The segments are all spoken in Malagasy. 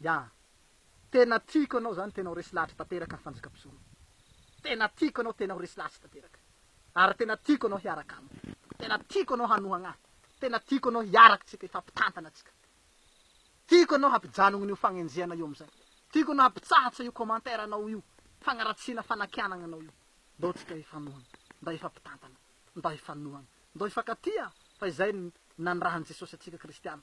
Ya. Tena tiako anao zany tena ho resy lahatra tanteraka ny fanjaka mpisoroka. Tena tiako anao tena ho resy lahatra tanteraka. Ary tena tiako anao hiaraka amiko. Tena tiako anao hanohagna ahy. Tena tiako anao hiaraka tsika hifampitantana tsika. Tiako anao hampijanogno io fagnenjehana io amizay. Tiako anao hampitsahatsa io commentaire anao io fagnaratsiana fanakianagna anao io. Ndao tsika hifanohagna. Ndao hifampitantana. Ndao hifanohagna. Ndao hifankatia fa izay ny nanirahan'i Jesosy antsika kristiana.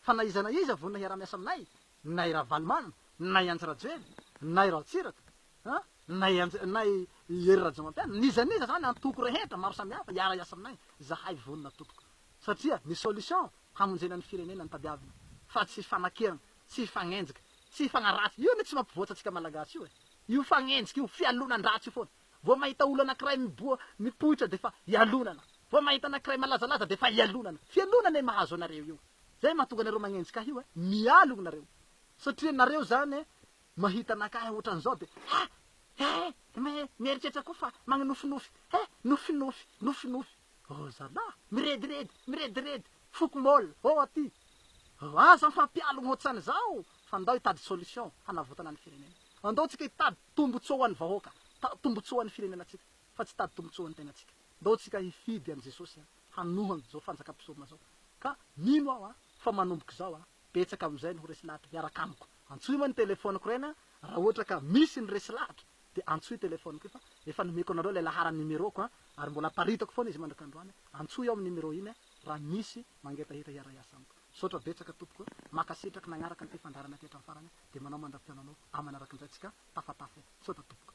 Fa na iza na iza vonona hiara-miasa aminay, na i Ravalomanana, na i Andry Rajoelina, na i Raotsiraka, na i Andry, na i Hery Rajaomampianina, n'iza n'iza izany, antoko rehetra maro samihafa hiara-hiasa aminay, izahay vonona tompoko. Satria ny solution hamonjena ny firenena no tadiavina, fa tsy fanakirana, tsy fanenjika, tsy fagnaratsy, io anie tsy mampivoatra antsika Malagasy io e! Io fanenjika io, fialonan-dratsy io foana. Vao mahita olona anankiray miboa, mipoitra dia efa ialonana. Vao mahita anankiray malazalaza dia efa ialonana. Fialonana e mahazo anareo io. Zay mahatonga anareo magnenjika ahy io e. Mialogna nareo. Satria nareo zany e mahita anakahy otran'izao dia he! he! me! mieritreritra koa fa magnofinofy he! nofinofy! nofinofy! oh zalah! mirediredy! mirediredy! foko môle! oh aty! oh aza mifampialogna otsan'izao fa ndao hitady solution hanavotana ny firenena. Andao tsika hitady. Tombotsoa ho an'ny vahoaka, ta, tombotsoa ho an'ny firenenantsika, fa tsy tady tombotsoa ho an'ny tenatsika. Ndao tsika hifidy an'i Jesosy an, hanoha an'izao fanjakam-pisorona zao. Ka, mino aho an, fa manomboka izao an, betsaka amin'izay ny ho resy lahatra, hiaraka amiko. Antsoy moa ny telefoniko ireny an, raha ohatra ka misy ny resy lahatra, dia antsoy telefoniko io, fa efa nomeko anareo ilay laharan'ny numeroko an, ary mbola aparitako foana izy mandrak'androany, antsoy ao amin'ny numéro iny an, raha misy Mangetaheta hiara-hiasa amiko. Misaotra betsaka tompoko a! Mankasitrak nanaraka ny fifandrarana aty hatramin'ny farany a! Dia manao mandra-pihaonanao aman'arakin'izay tsika tafatafa e! Misaotra tompoko.